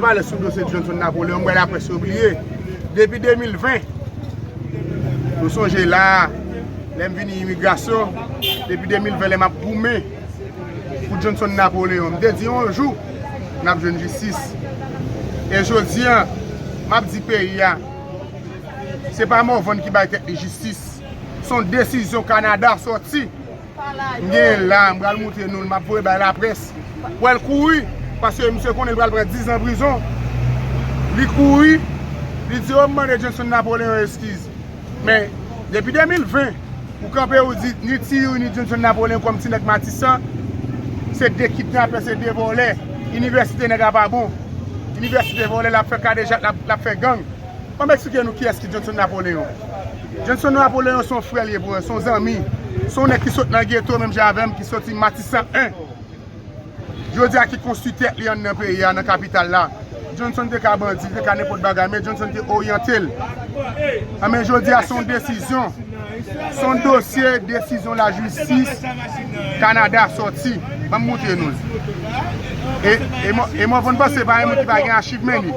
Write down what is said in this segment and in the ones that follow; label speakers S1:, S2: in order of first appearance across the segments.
S1: Pale sou dosye Johnson Napoleon m wè laprès yo bliye depi 2020 nou sonje la a lè m vini imigrasyon depi 2020 lè m ap goumen pou Johnson Napoleon m te di yon jou n ap jwenn jistis e jodi an m ap di peyi a se pa Morvan ki bay tèt li jistis son desizyon Kanada sòti. M genyen l la, m pral moutre nou l, m ap voye bay laprès. Wè l kouri, paske misye konnen l pral pran dizan prizon. Li kouri, li di o m mande Jenson Napoleon eskiz. Men, depi 2020, ou kanpe ou di ni Ti Youri ni Jenson Napoleon kòm ti nèg Matisan, se 2 kidnapè, se 2 vòlè. Inivèsite nèg la pa bon. Inivèsite vòlè, l ap fè kadejak, l ap fè gang. An m eksplike nou kiyès ki Jhonson Napoléon. Jhonson Napoléon se yon frè li ye pou mwen, se yon zanmi, se yon nèg ki sot nan geto menm jan avè m, ki soti Matisan 1, jodi a ki konstwi tèt li anndan peyi a, nan kapital la. Jhonson te ka bandi, li te ka nenpòt bagay, men Jhonson te oryante l. Anben jodi a se yon desizyon, se yon dosye desizyon lajistis Kanada soti. Ban m montre nou l. E mwen konn panse se pa yon moun ki pa gen achiv men li.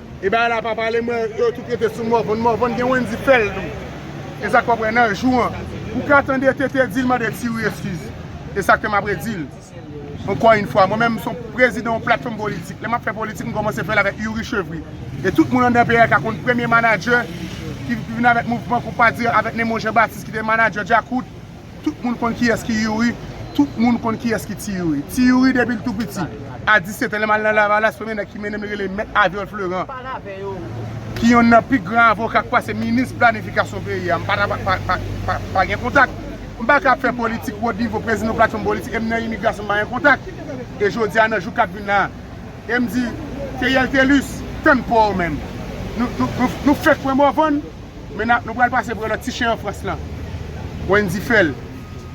S1: E bagay la pa pale mwen yo tout rete sou morvan morvan gen wendy fèl tou esak pap wè nan jou an ou ka tande TT dil mande tiwi eskiz esak fèm ap redil ankò yn fwa mwen menm m son prezidan yon platfòm politik lèm ap fè politik m kòmanse fèl avèk youri chevri e tout moun anndan peyi a ka konn premye manadjè ki vin avèk mouvman konpa di avèk nemon jean baptiste ki te manadjè djakout Tout moun konn kiyès ki Youri, tout moun konn kiyès ki Ti Youri. Ti Youri depi l tou piti, a 17 an lè m al nan Lavalas premye nèg ki mennen m li rele Mèt Aviol Fleurant ki yonn nan pi gran avoka k pase minis planifikasyon peyi a. M pa ta pa gen kontak. M pa ka ap fè politik wot nivo prezidan yon platfòm politik e m nan imigrasyon m pa gen kontak. E jodi a nan jou k ap vin la e m di Theriel Thelus tann pa w menm. Nou fèk pran Morvan. Men nou pral pase pre lòt ti chen an Frans lan. Wendy fèl.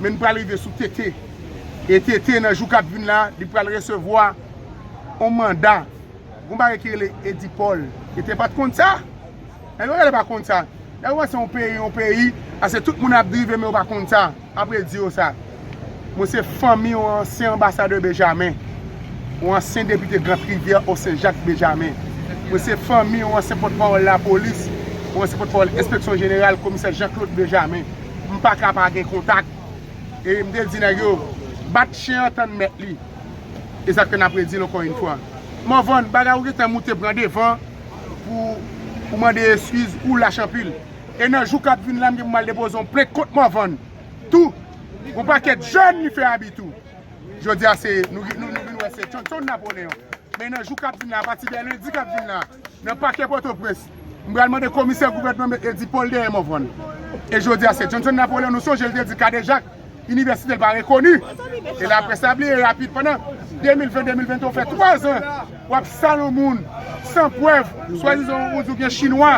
S1: Men nou pral rive sou TT. E TT nan jou kap vin la, li pral resevwa yon manda. Gon bagay ki rele Eddy Paul. TT pat konn sa? Nèg yo genlè pa konn sa. Lè ou wè se yon peyi, yon peyi, ase tout moun ap drive men yo pa konn sa. Apre di yo sa. Mwen se fanmi yon ansyen anbasadè Benjamin, yon ansyen depite Grant Rivière au Saint Jacques Benjamin. Mwen se fanmi yon ansyen pòtpawòl lapolis, yon ansyen pòtpawòl enspeksyon jeneral komisè Jean Claude Benjamin. M pa ka pa gen kontak. E m te di nèg yo, bat chen an tann mèt li. E sa k fè n apre di l ankò yon fwa. Morvan, bagay ou gentan moute pran devan pou mande eskiz, ou lach anpil. E nan jou kap vin la m gen pou m al depoze yon plent kont Morvan tou pou yon pakèt jèn li fè abi tou. Jodi a se nou vin wè se Thomson Napoleon. Men nan jou kap vin la apati de lendi kap vin la nan pakè Pòtoprens m pral mande komisè gouvènman m met Eddy Paul dèyè Morvan. E jodi a se Thomson Napoleon nou sonje l te di kadejak. Inivèsite l pa rekoni. E la près la bliye rapid pandan 2020-2021 ou fè 3 zan w ap sal yon moun san prèv swadizan ou di w gen chinwa.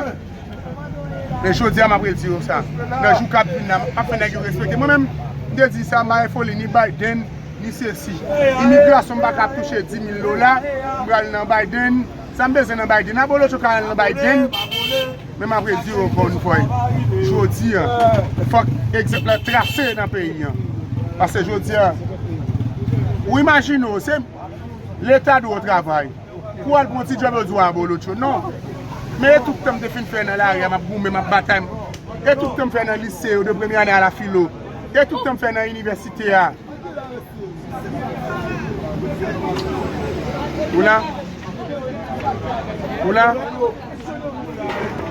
S1: Men jodi a m ap redi yo sa nan jou k ap vin la m ap fè nèg yo respekte mwen menm m te di sa m pa gen foli ni Biden ni sesi. Imigrasyon m pa ka ap touche 10,000 dola m pral nan Biden sa m bezwen nan Biden abolotcho ka al nan Biden. Men map redi w ankò yon fwa, jodi a fòk egzanp la trase nan peyi an. Pase jodi a, ou imajine w, se leta di w travay, pou al pran ti djòb yo di w abolotcho. Non, men etid ke m te fin fè nan lari a, map goumen, map batay, etid ke m fè nan lise yo de premye ane a la filo, etid ke m fè nan inivèsite a. Ou la? Ou la?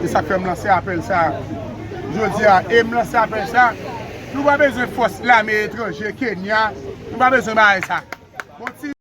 S1: Se sak fèm lanse apèl sa a jodi a e m lanse apèl sa a nou pa bezwen fòs lame etranje Kenya nou pa bezwen bagay sa.